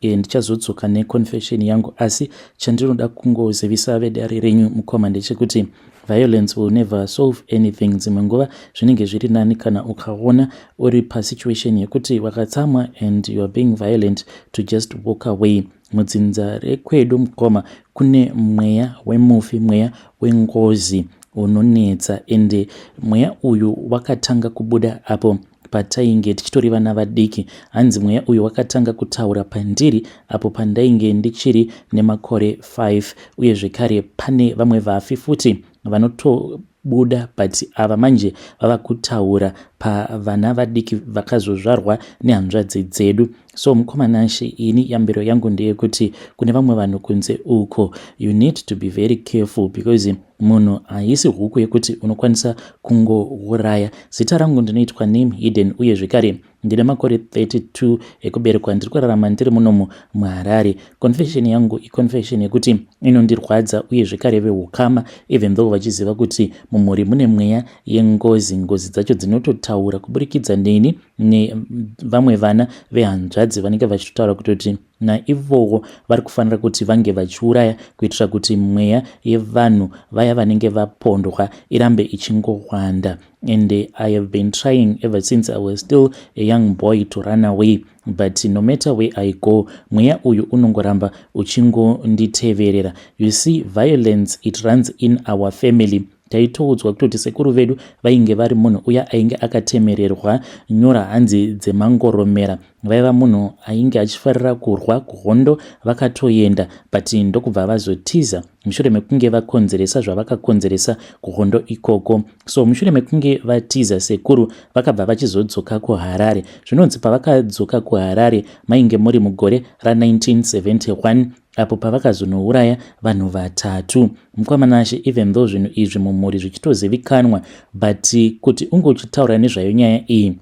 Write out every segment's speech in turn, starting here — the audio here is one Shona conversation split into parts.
E, ndichazodzoka neconfession yangu asi chandinoda kungozivisa vedare renyu mukoma ndechekuti violence will never solve anything dzimwe nguva zvinenge zviri nani kana ukaona uri pasituation yekuti wakatsamwa and youare being violent to just walk away mudzinza rekwedu mukoma kune mweya wemufi mweya wengozi unonetsa ende mweya uyu wakatanga kubuda apo Patainge tichitori vana vadiki, hanzi mweya uyu wakatanga kutaura pandiri apo pandainge ndichiri nemakore 5 uye zvekare pane vamwe vafi futi vanoto buda but ava manje vava kutaura pavana vadiki vakazozvarwa nehanzvadzi dzedu so mukoma nashe ini yambiro yangu ndeyekuti kune vamwe vanhu kunze uko you need to be very careful because munhu haisi huku yekuti unokwanisa kungouraya zita rangu ndinoitwa name hidden uye zvekare ndine makore 32 ekuberekwa ndiri kurarama ndiri munomu muharare confession yangu iconfession yekuti inondirwadza uye zvekare veukama even though vachiziva kuti mumhuri mune mweya yengozi ngozi dzacho dzinototaura kuburikidza neni nevamwe vana vehanzvadzi vanenge vachitotaura kutoti naivowo vari kufanira kuti vange vachiuraya kuitira kuti mweya yevanhu vaya vanenge vapondwa irambe ichingowanda and i have been trying ever since i was still a young boy to run away but no matter where i go mweya uyu unongoramba uchingonditeverera you see violence it runs in our family taitoudzwa kutoti sekuru vedu vainge vari munhu uya ainge akatemererwa nyora hanzi dzemangoromera vaiva munhu ainge achifarira kurwa kuhondo vakatoenda but ndokubva vazotiza mushure mekunge vakonzeresa zvavakakonzeresa kuhondo ikoko so mushure mekunge vatiza sekuru vakabva vachizodzoka kuharare zvinonzi pavakadzoka kuharare mainge muri mugore ra1971 apo pavakazonouraya vanhu vatatu mukwamanashe even though zvinhu izvi mumhuri zvichitozivikanwa but kuti unge uchitaura nezvayo nyaya iyi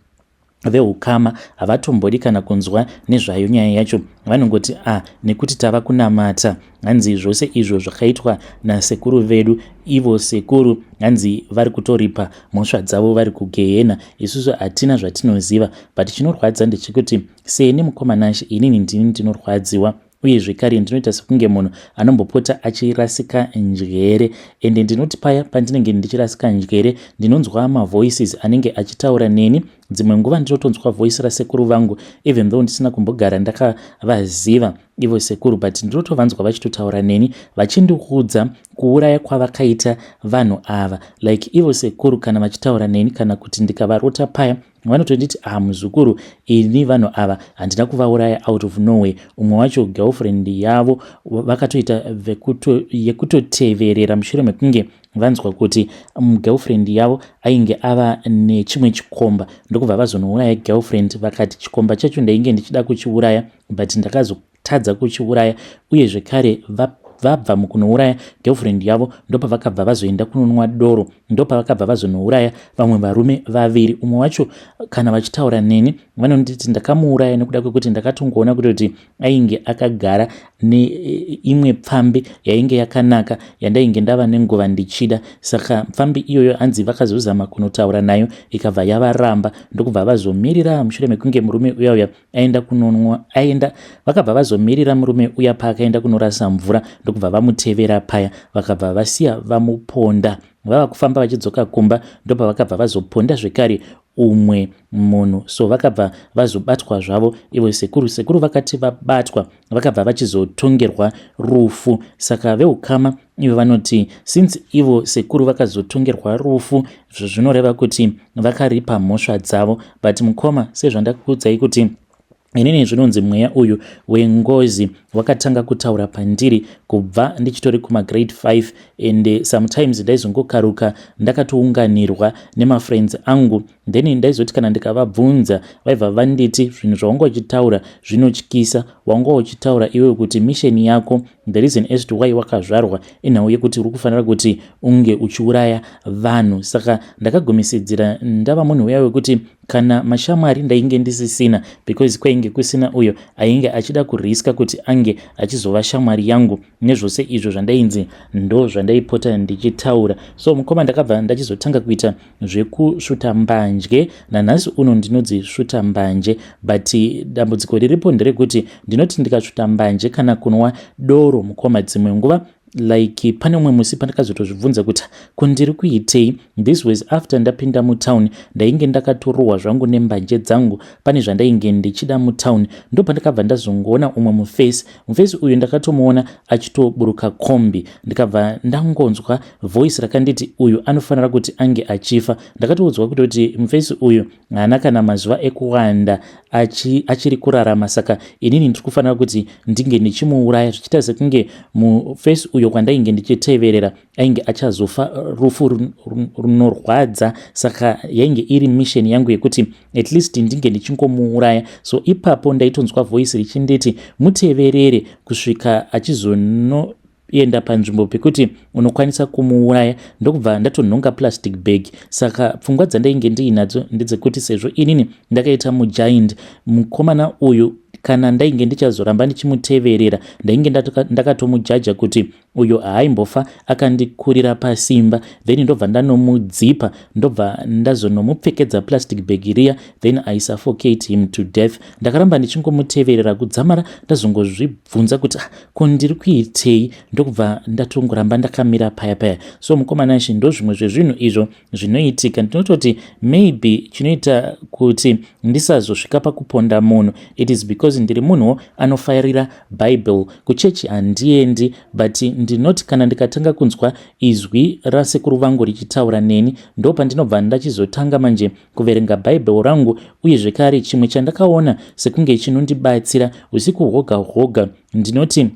veukama havatombodi kana kunzwa nezvayo nyaya yacho vanongoti a ah, nekuti tava kunamata hanzi zvose izvo zvakaitwa nasekuru vedu ivo sekuru hanzi vari kutoripa mhosva dzavo vari kugehena isusu hatina zvatinoziva but chinorwadza ndechekuti seni mukomanashe inini ndini ndinorwadziwa uye zvekare ndinoita sekunge munhu anombopota achirasika njere ende ndinoti paya pandinenge ndichirasika njere ndinonzwa mavoices anenge achitaura neni dzimwe nguva ndinotonzwa voice rasekuru vangu even though ndisina kumbogara ndakavaziva ivo sekuru but ndinotovanzwa vachitotaura neni vachindiudza kuuraya kwavakaita vanhu ava like ivo sekuru kana vachitaura neni kana kuti ndikavarota paya vanotonditi ah muzukuru ini vanhu ava handina kuvauraya out of norway umwe wacho girlfriend yavo vakatoita yekutoteverera mushure mekunge vanzwa kuti mm, girlfriend yavo ainge ava nechimwe chikomba ndokubva vazonouraya girlfriend vakati chikomba chacho ndainge ndichida kuchiuraya but ndakazo tadza kuchiuraya uye zvekare vabva mukunouraya girlfriend yavo ndopavakabva vazoenda kunonwa doro ndopavakabva vazonouraya vamwe varume vaviri umwe wacho kana vachitaura neni vanonditi ndakamuuraya nekuda kwekuti ndakatongoona kutoti ainge akagara neimwe pfambi yainge yakanaka yandainge ndava nenguva ndichida saka pfambi iyoyo hanzi vakazozama kunotaura nayo ikabva yavaramba ndokubva vazomirira mushure mekunge murume uyauya aenda kunonwa aenda vakabva vazomirira murume uya paakaenda kunorasa mvura ndokubva vamutevera paya vakabva vasiya vamuponda vava kufamba vachidzoka kumba ndopa vakabva vazoponda zvekare umwe munhu so vakabva vazobatwa zvavo ivo sekuru sekuru vakati vabatwa vakabva vachizotongerwa rufu saka veukama ivo vanoti since ivo sekuru vakazotongerwa rufu zvinoreva kuti vakaripa mhosva dzavo but mukoma sezvandakuudzai kuti inini zvinonzi mweya uyu wengozi wakatanga kutaura pandiri kubva ndichitori kumagrade 5 and sometimes ndaizongokaruka ndakatounganirwa nemafriends angu Then ndaizoti kana ndikavabvunza vaibva vanditi zvinhu zvaunga uchitaura zvinotyisa wanga uchitaura iwewe kuti mission yako the reason as to why wakazvarwa inhau yekuti uri kufanira kuti unge uchiuraya vanhu saka ndakagumisidzira ndava munhu uya wekuti kana mashamwari ndainge ndisisina because kwainge kusina uyo ainge achida kuriska kuti ange achizova shamwari yangu nezvose izvo zvandainzi ndo zvandaipota ndichitaura so mukoma ndakabva ndachizotanga kuita zvekusvuta mbanje nanhasi uno ndinodzisvuta mbanje but dambudziko riripo nderekuti ndinoti ndikasvuta mbanje kana kunwa doro mukoma dzimwe nguva like pane umwe musi pandakazotozvibvunza kuti ko ndiri kuitei this was after ndapinda mutown ndainge ndakatorohwa zvangu nembanje dzangu pane zvandainge ndichida mutown ndo pandakabva ndazongoona umwe muface Mufesi uyu ndakatomuona achitoburuka kombi ndikabva ndangonzwa voice rakanditi uyu anofanira kuti ange achifa. Ndakatoudzwa kutoti mufesi uyu haana kana mazuva ekuwanda achi, achiri kurarama saka inini ndiri kufanira kuti ndinge ndichimuuraya zvichiita sekunge mufesi uyo kwandainge ndichiteverera ainge achazofa rufu runorwadza saka yainge iri misheni yangu yekuti at least ndinge ndichingomuuraya so ipapo ndaitonzwa voice richinditi muteverere kusvika achizonoenda panzvimbo pekuti unokwanisa kumuuraya ndokubva ndatonhonga plastic bag saka pfungwa dzandainge ndiinadzo ndedzekuti sezvo inini ndakaita mujaindi mukomana uyu kana ndainge ndichazoramba ndichimuteverera ndainge ndakatomujaja kuti uyo haaimbofa akandikurira pasimba then ndobva ndanomudzipa ndobva ndazonomupfekedza plastic bag riya then i suffocate him to death ndakaramba ndichingomuteverera kudzamara ndazongozvibvunza kuti ah, ko ndiri kuitei ndokubva ndatongoramba ndakamira paya paya so mukomana shi ndo zvimwe zvezvinhu izvo zvinoitika ndinototi maybe chinoita kuti ndisazosvika pakuponda munhu it is because ndiri munhuwo anofarira Bible. Kuchechi handiendi but ndinoti kana ndikatanga kunzwa izwi rasekuru vangu richitaura neni ndopandinobva ndachizotanga manje kuverenga Bible rangu uye zvekare chimwe chandakaona sekunge chinondibatsira usiku hwoga hwoga ndinoti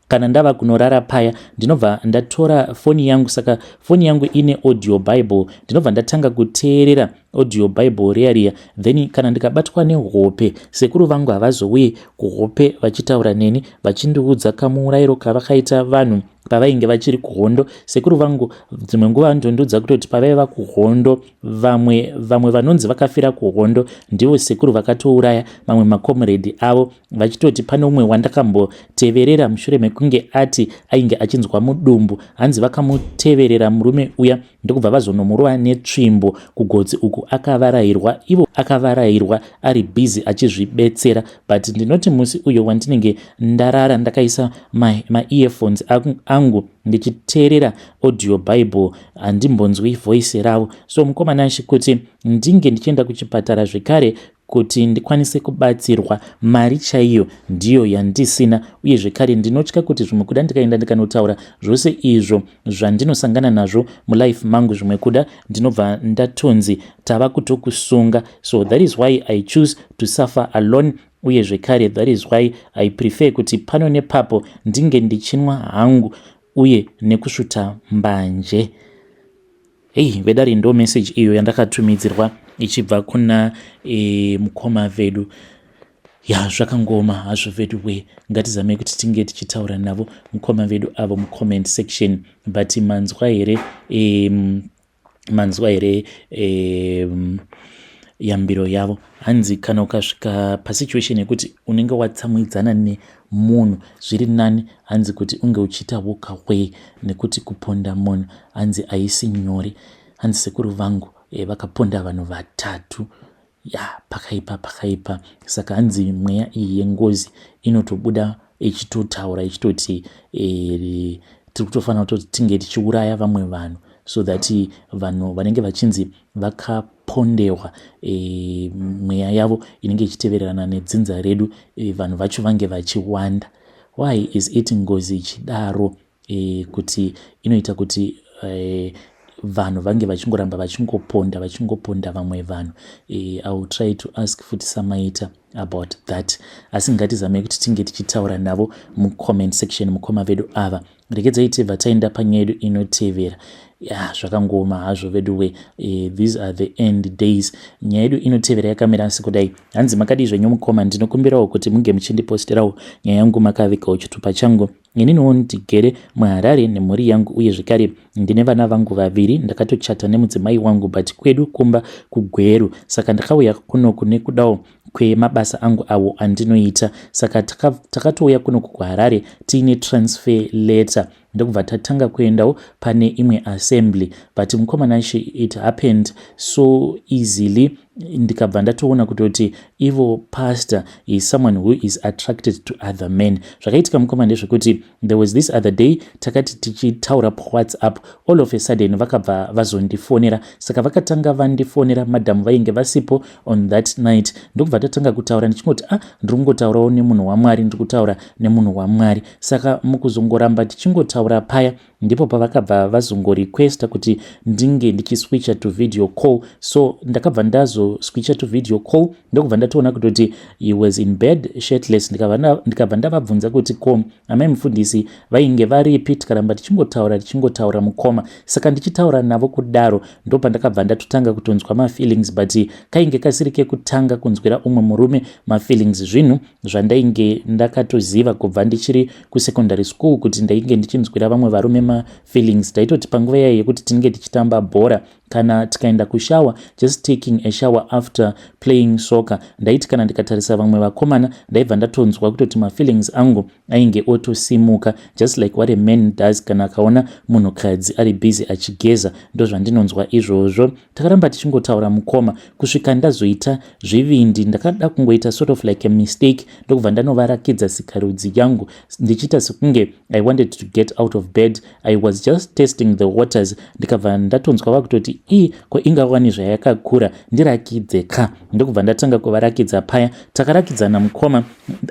kana ndava kunorara paya ndinobva ndatora foni yangu saka foni yangu ine audio bible ndinobva ndatanga kuteerera audio bible riya riya then kana ndikabatwa nehope sekuru vangu havazouye kuhope vachitaura neni vachindiudza kamuurayiro kavakaita vanhu pavainge vachiri kuhondo sekuru vangu dzimwe nguva vanondondiudza kutoti pavaiva kuhondo vamwe vamwe vanonzi vakafira kuhondo ndivo sekuru vakatouraya mamwe makomuredhi avo vachitoti pane umwe wandakamboteverera mushure mekunge ati ainge achinzwa mudumbu hanzi vakamuteverera murume uya ndokubva vazonomurova netsvimbo kugotsi uku akavarairwa ivo akavarairwa ari busy achizvibetsera but ndinoti musi uyo wandinenge ndarara ndakaisa maearphones ma angu ndichiteerera audio bible handimbonzwi voice ravo so mukomana chikuti ndinge ndichienda kuchipatara zvekare Kuti ndikwanise kubatsirwa, mari chaiyo ndiyo yandisina uye zvekare ndinotya kuti zvimwe kuda ndikaenda ndikanotaura zvose izvo zvandinosangana nazvo mulife mangu zvimwe kuda ndinobva ndatonzi tava kutokusunga so that is why I choose to suffer alone uye zvekare that is why I prefer kuti pano nepapo ndinge ndichinwa hangu uye nekusvuta mbanje. Hey, vedare ndo message iyo yandakatumidzirwa ichibva kuna e, mukoma vedu ya zvakangoma hazvo vedu we ngatizamei kuti tinge tichitaura navo mukoma vedu avo mucomment section but manzwa here um, manzwa here um, yambiro yavo hanzi kana ukasvika pasituation yekuti unenge watsamwidzana munhu zviri nani hanzi kuti unge uchiita wokaway nekuti kuponda munhu hanzi haisi nyore hanzi sekuru vangu eh, vakaponda vanhu vatatu ya pakaipa pakaipa saka hanzi mweya iyi yengozi inotobuda ichitotaura ichitoti eh, tiri kutofanira kutoti tinge tichiuraya vamwe vanhu so that vanhu vanenge vachinzi vaka pondewa e, mweya yavo inenge ichitevererana nedzinza redu e, vanhu vacho vange vachiwanda why is it ngozi ichidaro e, kuti inoita kuti e, vanhu vange vachingoramba vachingoponda vachingoponda vamwe vanhu e, iwill try to ask futi samaita about that asi ngatizamei kuti tinge tichitaura navo mucomment section mukoma vedu ava regedzai tibva taenda panyaya yedu inotevera ya zvakangooma hazvo veduwe eh, these are the end days nyaya yedu inotevera yakamira asi kudai hanzi makadii zvenyu mukoma ndinokumbirawo kuti munge muchindipostirawo nyaya yangu makavigawo chitupa changu ininiwo ndigere muharare nemhuri yangu uye zvekare ndine vana vangu vaviri ndakatochata nemudzimai wangu but kwedu kumba kugweru saka ndakauya kunoku nekudawo kwemabasa angu awo andinoita saka takatouya kuno kukuharare tiine transfer letter ndokubva tatanga kuendawo pane imwe assembly but mukomana she it happened so easily ndikabva ndatoona kutoti ivo pastor is someone who is attracted to other men zvakaitika mukoma ndezvekuti There was this other day takati tichitaura pawhatsapp all of a sudden vakabva vazondifonera saka vakatanga vandifonera madam vainge vasipo on that night ndokubva tatanga kutaura ndichingoti ah ndiri kungotaurawo nemunhu wamwari ndiri kutaura nemunhu wamwari saka mukuzongoramba tichingotaura paya ndipo pavakabva vazongorequesta kuti ndinge ndichiswitcha to video call so ndakabva ndazoswitcha to video call ndokubva ndatoona kutoti He was in bed shirtless ndikabva ndavabvunza kuti ko amai mufundisi vainge varipi tikaramba tichingotaura tichingotaura mukoma saka ndichitaura navo kudaro ndopandakabva ndatotanga kutonzwa mafeelings but kainge kasiri kekutanga kunzwira umwe murume mafeelings zvinhu zvandainge ndakatoziva kubva ndichiri kusecondary school kuti ndainge ndichinzwira vamwe varume mafeelings taitoti panguva yaye yekuti tinenge tichitamba bhora kana tikaenda kushower just taking a shower after playing soccer ndaiti kana ndikatarisa vamwe vakomana ndaibva ndatonzwa kutoti mafeelings angu ainge otosimuka just like what a man does kana akaona munhukadzi ari busy achigeza ndozvandinonzwa izvozvo takaramba tichingotaura mukoma kusvika ndazoita zvivindi ndakada kungoita sort of like a mistake ndokubva ndanovarakidza sikarudzi yangu ndichiita sekunge i wanted to get out of bed i was just testing the waters ndikabva ndatonzwa vakutoti i ko ingawani zvayakakura ndirakidze ka ndokubva ndatanga kuvarakidza paya takarakidzana mukoma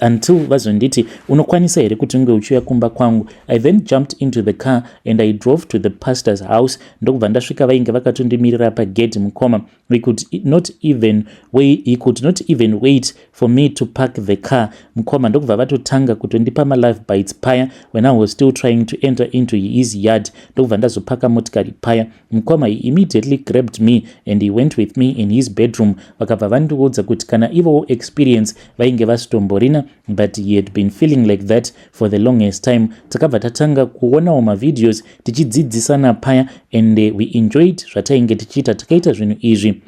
until vazonditi unokwanisa here kuti unge uchiuya kumba kwangu i then jumped into the car and i drove to the pastor's house ndokubva ndasvika vainge vakatondimirira pagedhi mukoma we could e, not even wait, he could not even wait for me to park the car mukoma ndokubva vatotanga kutondipa malife bites paya when i was still trying to enter into his yard ndokubva ndazopaka motikari paya mukoma he immediately grabbed me and he went with me in his bedroom vakabva vandiudza kuti kana ivowo experience vainge vasitomborina but he had been feeling like that for the longest time takabva tatanga kuonawo mavideos tichidzidzisana paya and eh, we enjoyed zvatainge tichiita takaita zvinhu izvi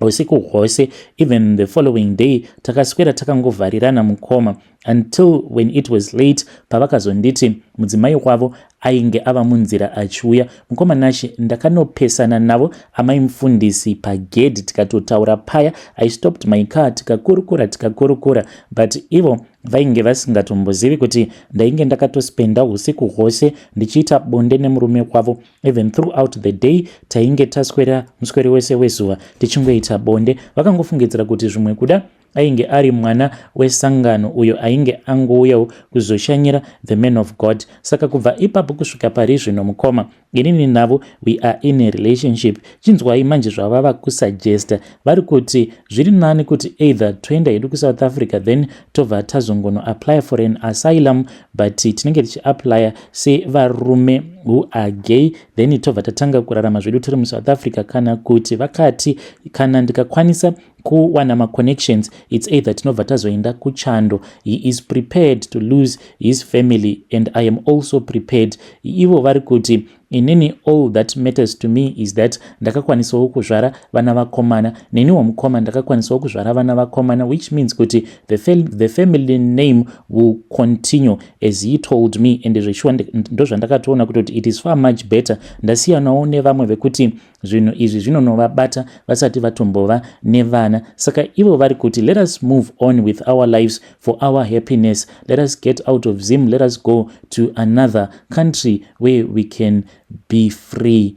usiku hwose even the following day takaswera takangovharirana mukoma until when it was late pavakazonditi mudzimai wavo ainge ava munzira achiuya mukoma nashe ndakanopesana navo amai mufundisi pagedhi tikatotaura paya i stopped my car tikakurukura tikakurukura but ivo Vainge vasingatombozivi kuti ndainge ndakatospenda husiku hwose ndichiita bonde nemurume wavo even throughout the day tainge taswera muswere wese wezuva tichingoita bonde vakangofungidzira kuti zvimwe kuda ainge ari mwana wesangano uyo ainge angouyawo kuzoshanyira the man of god saka kubva ipapo kusvika pari zvino mukoma inini navo we are in a relationship chinzwai manje zvavava kusuggesta vari kuti zviri nani kuti either toenda hedu kusouth africa then tobva tazongono apply for an asylum but tinenge tichiapplya sevarume who are gay then tobva tatanga kurarama zvedu tiri musouth africa kana kuti vakati kana ndikakwanisa kuwana maconnections its either tinobva tazoenda kuchando he is prepared to lose his family and i am also prepared ivo vari kuti inini all that matters to me is that ndakakwanisawo kuzvara vana vakomana neniwo mukoma ndakakwanisawo kuzvara vana vakomana which means kuti the, fam the family name will continue as he told me and zveshuwa ndozvandakatoona kutoti it is far much better ndasiyanawo nevamwe vekuti zvinhu izvi zvinonovabata vasati vatombova nevana saka ivo vari kuti let us move on with our lives for our happiness let us get out of zim let us go to another country where we can be free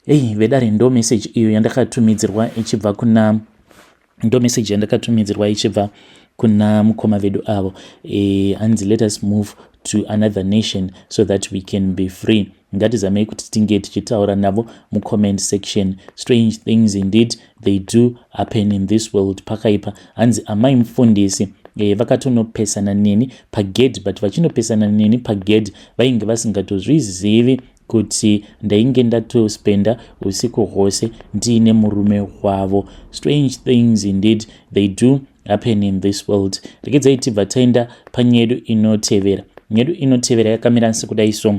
hei vedare ndo meseji iyo yandakatumidzirwa ichibva kuna ndomeseji yandakatumidzirwa ichibva kuna mukoma vedu avo e, hanzi let us move to another nation so that we can be free ngatizamei kuti tinge tichitaura navo mucomment section strange things indeed they do happen in this world pakaipa hanzi amai mufundisi e, vakatonopesana neni pagedhi but vachinopesana neni pagedhi vainge vasingatozvizivi kuti ndainge ndatospenda usiku hwose ndiine murume wavo strange things indeed they do happen in this world regedzai tibva taenda panyedu inotevera nyedu inotevera yakamira sekudai so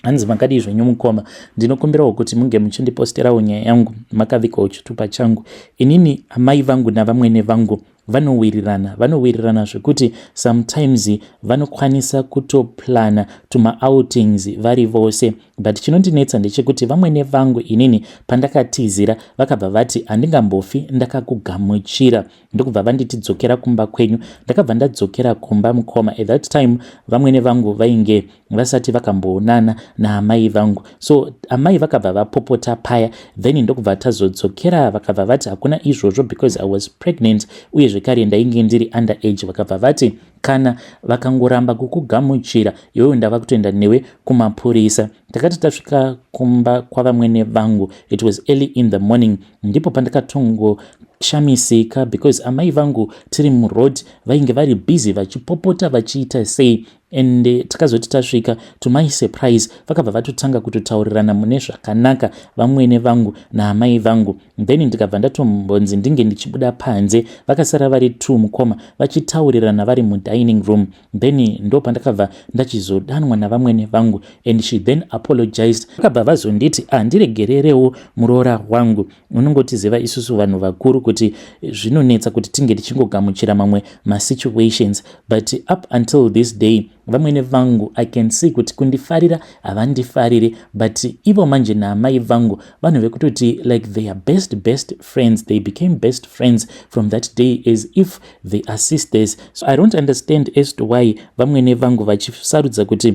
hanzi makadii zvenyu mukoma ndinokumbirawo kuti munge muchindiposterawo nyaya yangu makavikawo chitupa changu inini amai vangu navamwene vangu vanowirirana vanowirirana zvekuti sometimes vanokwanisa kutoplana tumaoutings vari vose but chinondinetsa ndechekuti vamwene vangu inini pandakatizira vakabva vati handingambofi ndakakugamuchira ndokubva vanditi dzokera kumba kwenyu ndakabva ndadzokera kumba mukoma at that time vamwene vangu vainge vasati vakamboonana naamai vangu so amai vakabva vapopota paya then ndokubva tazodzokera vakabva vati hakuna izvozvo because i was pregnant uye zvekare ndainge ndiri under age vakabva vati kana vakangoramba kukugamuchira iwewe ndava kutoenda newe kumapurisa takati tasvika kumba kwavamwene vangu it was early in the morning ndipo pandakatongo shamisika because amai vangu tiri muroad vainge vari busy vachipopota vachiita sei and eh, tikazoti tasvika to my surprise vakabva vatotanga kutotaurirana mune zvakanaka vamwene vangu naamai vangu then ndikabva ndatombonzi ndinge ndichibuda panze vakasara vari two mukoma vachitaurirana vari mudining room then ndo pandakabva ndachizodanwa navamwene vangu and she then apologized vakabva vazonditi andiregererewo ah, muroora wangu munongotiziva isusu vanhu vakuru kuti zvinonetsa kuti tinge tichingogamuchira mamwe masituations but up until this day vamwene vangu i can see kuti kundifarira havandifariri but ivo manje naamai vangu vanhu vekutoti like their best best friends they became best friends from that day as if they are sisters so i don't understand as to why vamwene vangu vachisarudza kuti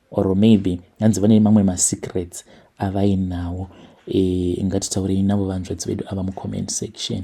or maybe hanzi vane mamwe masecrets avainawo e, ngatitaurei navo vanzvadzi vedu ava mucomment section